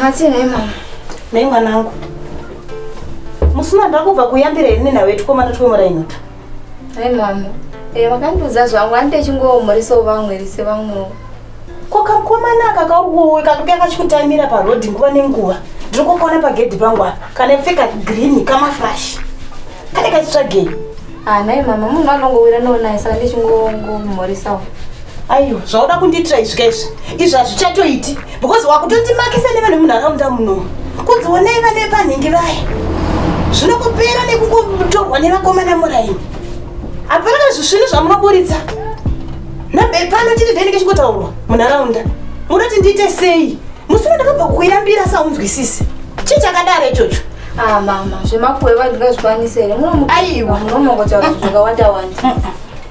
Hatsi nhai mama. Nhai mwanangu. Musina ndakubva kuyambira ini nawe tikomana twe muraino. Nhai mama. Eh vakandiudza zvangu ani techingoomhoresawo vamwe rise vamwewo. Ko kakomana aka kauwe kakuya kachikutamira paroad nguva nenguva. Ndiri kukona pagedhi pangu apa. Kana pfeka green kamafresh. Kane kachitsvagei. Ah, nhai mama munhu anongowira noonaye saka ndichingongomhorisawo aiwa zvauda kundiitira izvi kaizvi izvi hazvichatoiti because wakutondimakisa nevane munharaunda muno kunzi onai vana vepanhingi vaya zvinokupera nekungotorwa nevakomana muraini hapana kana zvisvinu zvamunoburitsa nabe pano chiri ndainenge chingotaurwa munharaunda munoti ndiite sei musina ndakabva kukuyambira saunzwisisi chii chakadaro ichocho Ah mama, zvemakuwe vanhu ngazvikwanise here? Aiwa, munomongotaura zvakawanda wanda.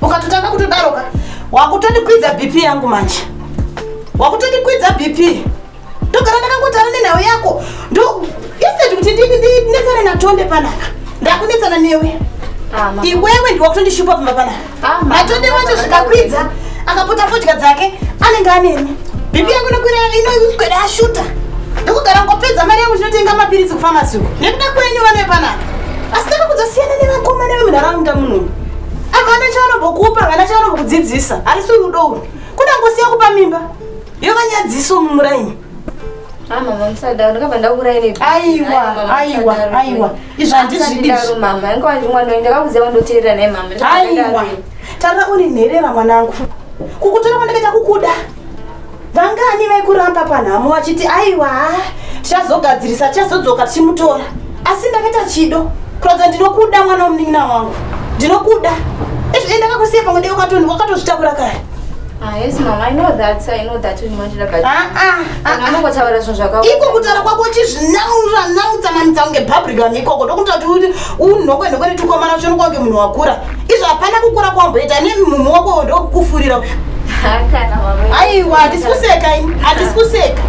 Ukatotanga kutodaroka, wakutondikwidza BP yangu manje. Wakutondikwidza BP. Ndogara ndakangotara nenhau yako. Ndo instead kuti ndinetsane naTonde panapa. Ndakunetsana newe. Ah, iwewe ndiwe wakutondishupa pamba panapa. matonde wacho zvikakwidza akapota fodya dzake anenge aneni bipi yangu nokwira inouswere ashuta ndokugara ngopedza mari yangu chinotenga mapiritsi kufamasi uko nekuda kwenyu vanoe panapa asi taka kudzosiyana nevakomana vemunharaunda munomu avana chavanombokupa vana chavanombokudzidzisa harisi rudo uru kudangosiya kupa mimba yovanyadziso mumuraini tara uri nherera mwanangu kukutora kwandakaita kukuda vangani vaikuramba panhamo vachiti aiwa tichazogadzirisa tichazodzoka tichimutora asi ndakaita chido kuratidza ndinokuda mwana wemunin'ina wangu ndinokuda izvi ndakakusiya pamwe ndekakatoni wakatozvitakura kare Ah, yes mama, I know that, I know that you want to look at. Ah ah. Kana ah, unongotaura ah. zvinhu zvakaoma. Iko kutaura kwako chizvinamura namutsa mamutsa kunge public vanhu ikoko ndokuti kuti unhokwe nhokwe netukomana ucho nokwange munhu wakura. Izvo hapana kukura kwamboita ne mumhu wako ndokufurira. Kana mama. Aiwa, hatisi kuseka ini, hatisi kuseka.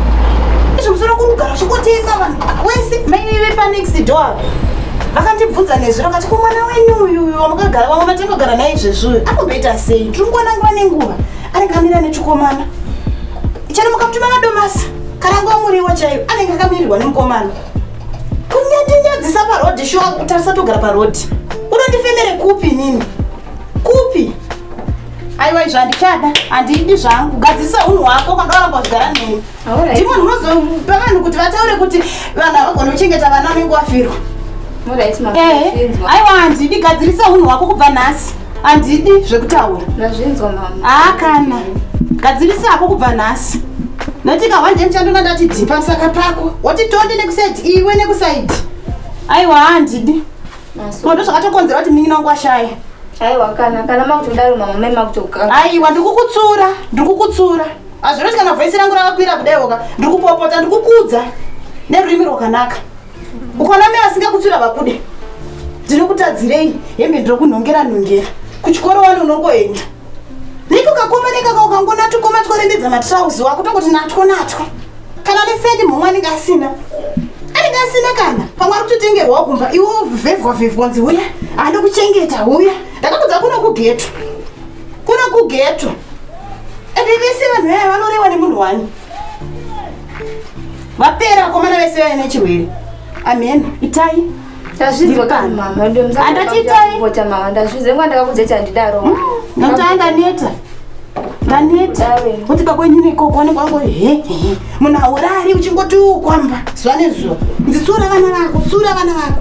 Izvo musoro kunogara uchingotenga vanhu. Wese maine vepa next door. vakandibvunza nezwi rakati ko mwana wenyu uyuyu wamakagara vamwe vatengogara naye izvezvuyo anomboita sei tiri nguona nguva nenguva anenge amira nechikomana chero mukamutuma madomasi kana nguva muriwo chaiyo anenge akamirirwa nemukomana kunyandinyadzisa parhodhi shuwa kutarisa togara parhodhi unondifemere kupi nini kupi aiwa izvo handichada handiidi zvangu gadzirisa unhu hwako kwanga waramba uchigara neni ndimo ndinozopa vanhu kuti vataure kuti vanhu havagona kuchengeta vana vanenge wafirwa eh, aiwa handidi gadzirisa unhu hwako kubva nhasi handidi zvekutaura haa kana gadzirisa hako kubva nhasi notika hwanje ndichandona ndati dhipa musaka pako woti tonde nekusaidi iwe nekusaidi aiwa handidi kondo zvakatokonzera kuti munin'ina wangu ashaya aiwa kana kana makutodaro mama mai makutokaa aiwa ndikukutsura ndikukutsura hazvinoti kana vhoisi rangu rakakwira kudaiwoka ndiri kupopota ndiri kukudza nerurimi rwakanaka ukaona mai vasingakutsvira vakude ndinokutadzirei hembe ndirokunhongera nhongera kuchikoro wani unongoenda niko kakoma nekaka ukangona tukoma tworembedza matrauzi wako tongoti natwo natwo kana nesendi mhomwe anenge asina anenge asina kana pamwe ari kutotengerwawo kumba iwo vhevwa vhevwa nzi huya hande kuchengeta huya ndakakudza kuno kugeto Kuri kugeto. Ende vese vanhu vaya vanorewa nemunhu wani. Vapera vakomana vese vaya nechirwere. Amen. Itai. Ndazvidzwa kana mama wedu mzangu. Andati itai. Kupota mama ndazvidzwa ngwa ndakakudza kuti andidaro. Hmm, Ndotanga ndaneta. Ndaneta. Kuti pakwenyu nekoko wanenge wango he he. Munhu aurari uchingoti ukwamba zuva nezuva. Nditsura vana vako, tsura vana vako.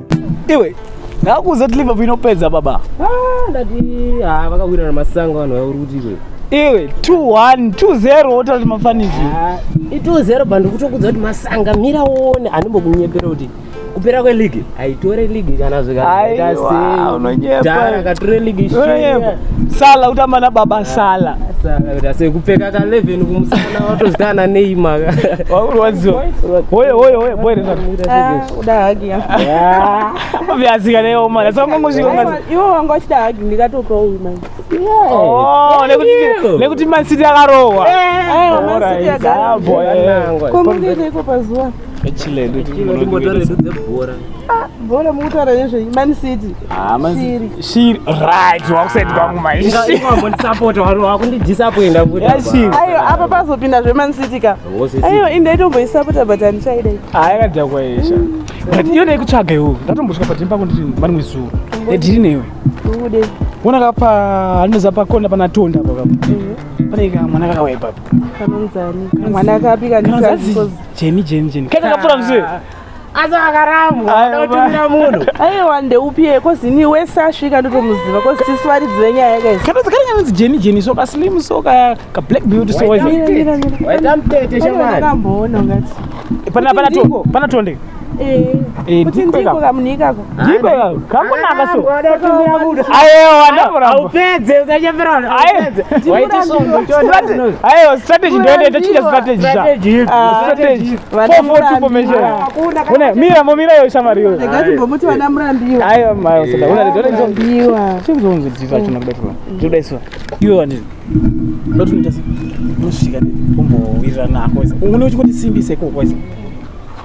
iwe ndakuuza kuti liverpool inopedza baba ah, ndati ah, vakawina namasango vanhu vauri kuti iwe iwe 21 20 wotara kuti mafanizi ah, i20 bva ndikutokudza kuti masanga mira uone anombokunyepera kuti kupera kweligi aitore ligi kana zvikaakature ligi sala kutamba na baba sala kupfeka ka 11 kumusana watozitana neimaka wakurwadziwa hoye hoye hoye boeresa kuda hagi yaazika neyo mwana saka mangozvika iwo wanga wachida hagi ndikatopa uyu manje oh, nekuti mansiti akarohwa komukekeiko pazuva bhora mukutaura nezvei man city ah, shiri right wakusaiti kwangu maishiri apa pazopinda zveman city ka aiwa ini ndaitomboisapota but handichaida ayakadhakwa ah, yesha but iyo ndaikutsvaga iwo ndatombosvika padhini pako ndiri mari mwezuro ndiri newe wona ka pa handinoziva pakona pana tonda apo kapo mhm. pane ka mwana kakauya ipapo kanonzani mwana akapi kanizazijeni jeni jeni kaita kapfura mzee asi akarambwa Ayo, otumira munhu aiwa ndeupi iye kozi ini wese asvika ndotomuziva kozi tisu varidzi venyaya yakaisa kana dzakare kanonzi jeni jeni so kaslim so ka ka black beauty so waita Mira, mira, mira. waita mutete Pane shamwari vakamboona ungati pana pana to Ndiko. pana tonde Eh, Eh, kuti ndiko ndiko ika. kamunhu ikako strategy ndoende tochinja strategy mira yo shamari yo ndotoita unochikondisimbisekokwaiza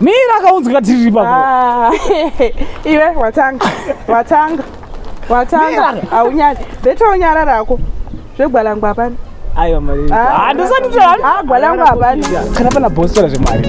mira akaunzika tiri pa ah, iwe watanga watanga watanga aunyari betounyara rako zvegwalangwa hapana aiwa mari ah. handisatitagwalangwa ah, hapana kana pana bhostora zvemari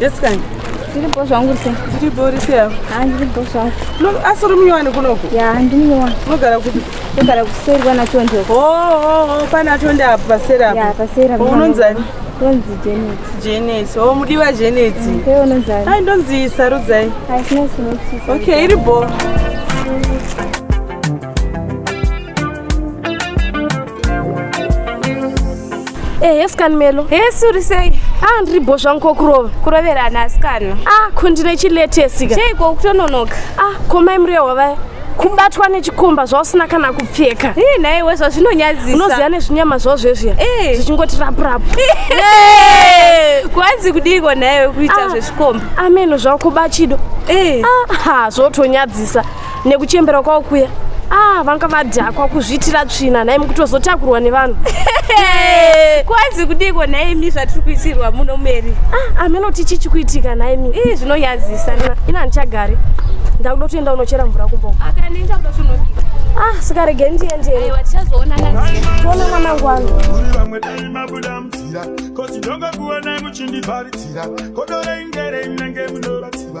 Jessica ndiripo zvangu rise ndiripo rise yavo ha ndiripo zvangu asi uri munyowani kunoku ya ndimunyowani unogara kupi ndogara kuseri kwanatonde oh, oh, oh, panatonde apo paseri apo unonzani Ndonzi Janet. Janet. Oh, mudiwa Janet. Ndiwe unonzani? Hai ndonzi Sarudzai. Hai sina chinokuchisa. Okay, iri bo. Eh, yes kan Melo. Eh, suri sei? Ah, ndiri bo zvangu kokurova. Kuroverana asikana. Ah, ko ndine chiletesi ka. Sei ko kutononoka? Ah, ko mai muriyo wavaya. kubatwa nechikomba zvausina kana kupfeka hey, eh, naiwe zvazvinonyadzisa unoziva nezvinyama zvao zvezviya hey. Eh. zvichingoti rapurapu hey. kwanzi kudiiko naiwe kuita ah. zvechikomba ameno zvakuba chido hey. ah, zvotonyadzisa nekuchembera kwao kuya ah, vanga vadhakwa kuzviitira tsvina nhai mukutozotakurwa nevanhu kwanzi kudiko nhaimi zvatiri kuitirwa muno meri ah, ameno tichi chikuitika nhaimi ii zvinonyadzisa ina handichagari ndakuda kutoenda unochera mvura kumbo akanenga kuda tonobika ah sikarege ndiendeona mwanangu wanu vamwe dai mabuda mutira kosi ndongokuonai muchindivharidzira kodoreingerei munenge munovatsiva